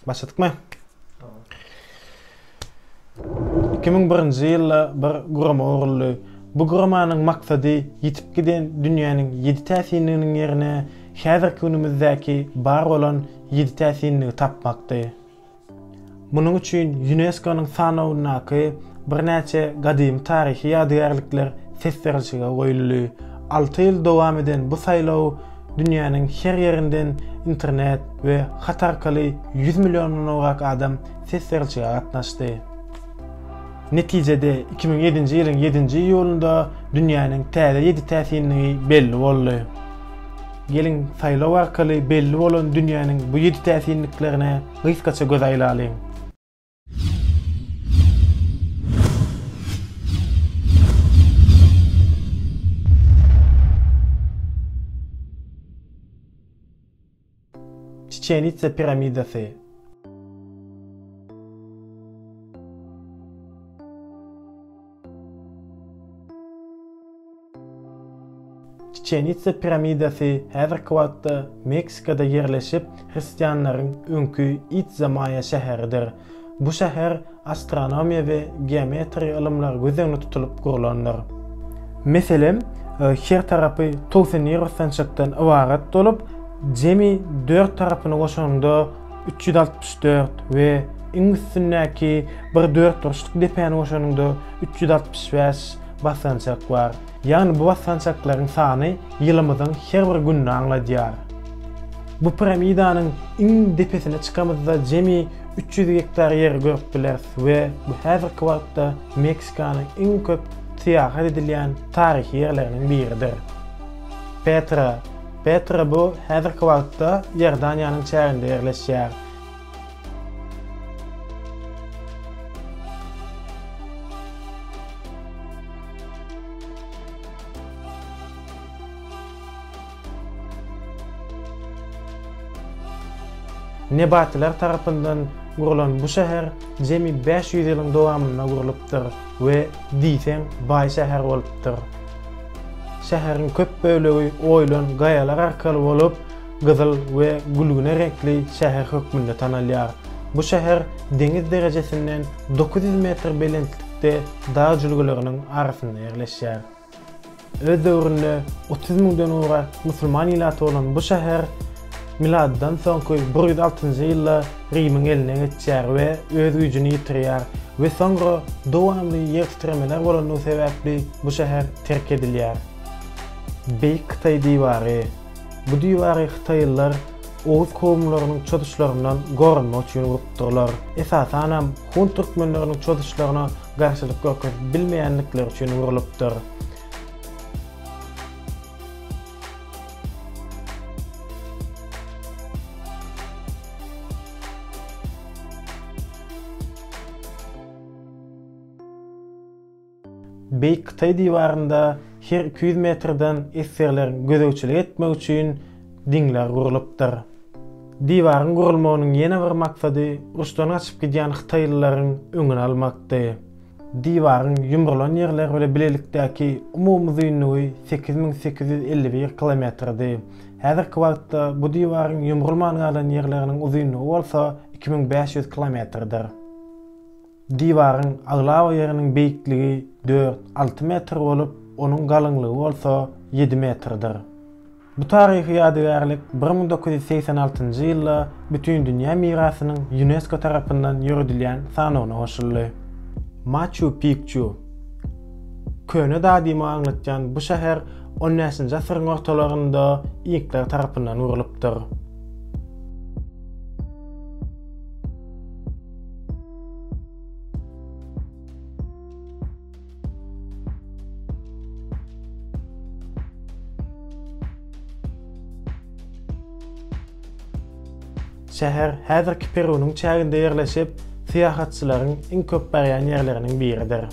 Başladykmy? 2001-nji ýylda bir gurama guruldy. Bu guramanyň maksady ýitip giden dünýäniň ýedi täsinliginiň ýerine häzirki günümizdäki bar bolan ýedi täsinligi tapmakdy. Munuň üçin ÝUNESKO-nyň sanawyndaky birnäçe gadymy taryhy ýadygärlikler ses berilşige goýuldy. Alty ýyl dowam eden bu saýlaw dünýäniň her ýerinden internet we hat arkaly ýüz milliondan gowrak adam ses berilşige gatnaşdy. Netijede iki müň ýedinji ýylyň ýedinji iýulynda dünýäniň täze ýedi täsinligi belli boldy. Geliň, saýlaw arkaly belli bolan dünýäniň bu ýedi täsinliklerine Gysgaça göz aýlalyň. Çiçenitsa piramidasy. Çiçenitsa piramidasy häzirki wagtda Meksikada ýerleşip, hristianlaryň öňki Itza-Maýa şäheridir. Bu şäher astronomiýa we geometriýa ylymlary göz öňünde tutulyp gurlandyr. Meselem, her tarapy towsy neýrostançakdan ybarat bolup, jemi dört tarapyny goşanyňda Üç ýüz altmyş dört we iň üstündäki bir dört burçluk depäni goşanyňda üç ýüz altmyş bäş basgançak bar. Ýagny bu basgançaklaryň sany ýylymyzyň her bir gününi aňladýar. Bu piramidanyň iň depesine çykamyzda jemi üç ýüz gektar ýeri görüp bileris we bu häzirki wagtda Meksikanyň iň köp syýahat edilýän taryhy ýerleriniň biridir. Petra, Petra bu häzirki wagtda Iordaniýanyň çäginde ýerleşýär. Nebatiler tarapyndan gurlan bu şäher jemi bäş ýüz ýylyň dowamynda gurlupdyr. We diýseň baý şäher bolupdyr. Şäheriň köp bölegi oýulan gaýalar arkaly bolup, gyzyl we gülgüne reňkli şäher hökmünde tanalýar. Bu şäher deňiz derejesinden dokuz ýüz metr belentlikde dag jülgeleriniň arasynda ýerleşýär. Öz döwründe otuz müňden gowrak musulman ilaty bolan bu şäher miladdan soňky bir ýüz altynjy ýylda Rimiň eline geçýär we öz güýjüni ýitirýär we soňra dowamly ýer titremeler bolandygy sebäpli bu şäher terk edilýär. Beýik Hytaý diwary. Bu diwary hytaýlylar oguz kowumlarynyň çozuşlaryndan goranmak üçin gurupdyrlar. Esasanam hun türkmenleriniň çozuşlaryna garşylyk görkezip bilmeýändikleri üçin urlupdyr. Beýik Hytaý diwarynda her iki ýüz metrden esgerleriň gözegçilik etmegi üçin diňler gurlupdyr. Diwaryň gurulmagynyň ýene bir maksady uruşdan gaçyp gidýän hytaýlylaryň öňüni almakdy. Diwaryň ýumrulan ýerleri bile bilelikdäki umumy uzynlygy sekiz müň sekiz ýüz elli bir kilometrdi. Häzirki wagtda bu diwaryň ýumrulman galan ýerleriniň uzynlygy bolsa iki müň bäş ýüz kilometrdir. Diwaryň aglaba ýeriniň beýikligi dört, alty metr bolup, onuň galyňlygy bolsa ýedi metrdir. Bu taryhy ýadygärlik bir müň dokuz ýüz segsen altynjy ýylda Bütindünýä mirasynyň Ýunesko tarapyndan ýöredilýän sanawyna goşuldy. Maçu Pikçu Köne Dadyma aňlatýan bu şäher on bäşinji asyryň ortalarynda inkler tarapyndan gurlupdyr. Şäher häzirki Perunyň çäginde ýerleşip, syýahatçylaryň iň köp barýan ýerleriniň biridir.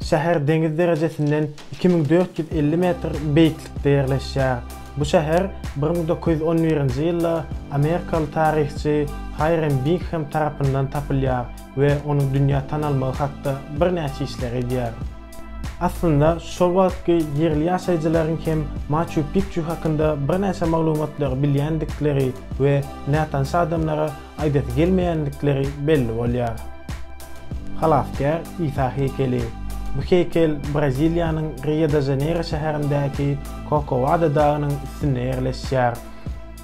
Şäher deňiz derejesinden iki müň dört ýüz elli metr beýiklikde ýerleşýär. Bu şäher bir müň dokuz ýüz on birinji ýylda amerikaly taryhçy Haýrem Bingham tarapyndan tapylýar we onuň dünýä tanalmagy hakda birnäçe işler edýär. Aslynda, şol wagtky ýerli ýaşaýjylaryň hem Maçu-Pikçu hakynda birnäçe maglumatlary bilýändikleri we nätanyş adamlara aýdasy gelmeýändikleri belli bolýar. Halasgär Isa heýkeli. Bu heýkel Braziliýanyň Rio-de-Žaneýro şäherindäki Korkovado dagynyň üstünde ýerleşýär.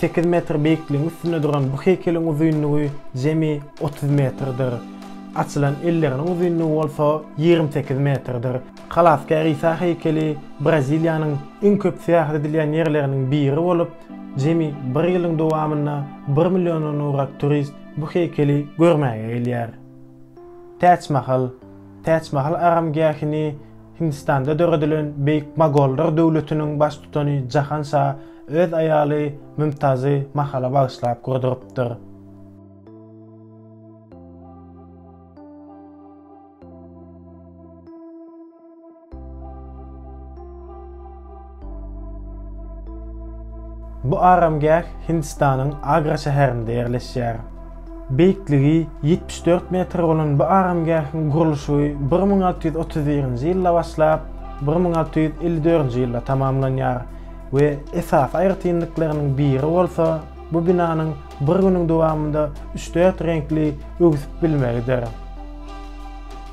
Sekiz metr beýikligiň üstünde duran bu heýkeliň uzynlygy jemi otuz metrdir. Açylan elleriniň uzynlygy bolsa ýigrimi sekiz metrdir. Halasgär Isa heýkeli Braziliýanyň iň köp syýahat edilýän ýerleriniň biri bolup, jemi bir ýylyň dowamynda bir milliondan gowrak turist bu heýkeli görmäge gelýär. Täç Mahal. Täçmahal aramgähini Hindistanda döredilen beýik mogollar döwletiniň baştutany Jahan şa öz aýaly Mümtazy Mahala bagyşlap gurdurypdyr. Bu aramgäh Hindistanyň Agra şäherinde ýerleşýär. Beýikligi ýetmiş dört metr bolan bu aramgähiň gurluşygy bir müň alty ýüz otuz birinji ýylda başlap, bir müň alty ýüz elli dördünji ýylda tamamlanýar we esasy aýratynlyklarynyň biri bolsa bu binanyň bir günüň dowamynda üç-dört reňkli öwsüp bilmegidir.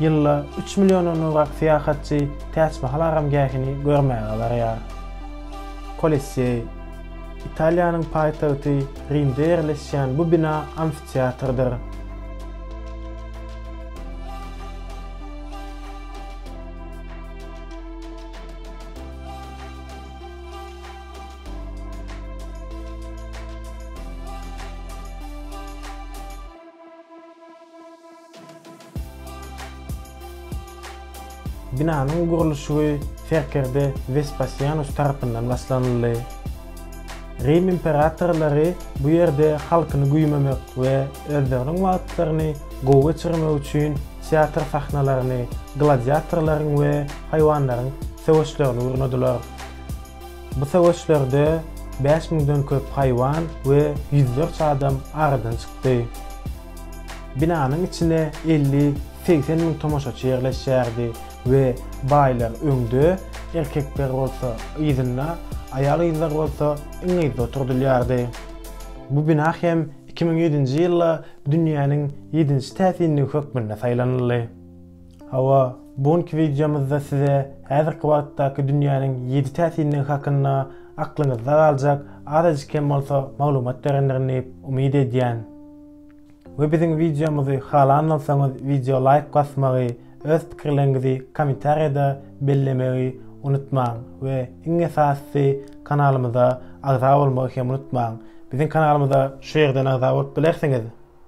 Ýylda üç milliondan gowrak syýahatçy Täçmahal aramgähini görmäge barýar. Kolisseý, Italiýanyň paýtagty Rimde ýerleşýän bu bina amfiteatrdyr. Binanyň gurluşygy serkerde Wespasianus tarapyndan başlanyldy. Rim imperatorlary bu ýerde halkyny güýmemek we özleriniň wagtlaryny gowy geçirmek üçin teatr sahnalaryny, gladiatorlaryň we haýwanlaryň söweşlerini gurnadylar. Bu söweşlerde bäş müňden köp haýwan we ýüzlerçe adam aradan çykdy. Binanyň içine elli, segsen müň tomaşaçy ýerleşýärdi we baýlar öňde, erkekler bolsa yzynda, aýal-gyzlar bolsa iň yzda oturdylýardy. Bu bina hem iki müň ýedinji ýylda dünýäniň ýedinji täsinligi hökmünde saýlanyldy. Hawa, bu günki wideomyzda size häzirki wagtdaky dünýäniň ýedi täsinligi hakynda aklyňyzda galjak azajyk hem bolsa maglumat berendirin diýip umyt edýän. We biziň wideomyzy halan bolsaňyz wideo laýk basmagy, öz pikirleriňizi kommentariýada bellemegi unutmaň we iň esasysy kanalymyza agza bolmagy hem unutmaň. Biziň kanalymyza şu ýerden agza bolup bilersiňiz.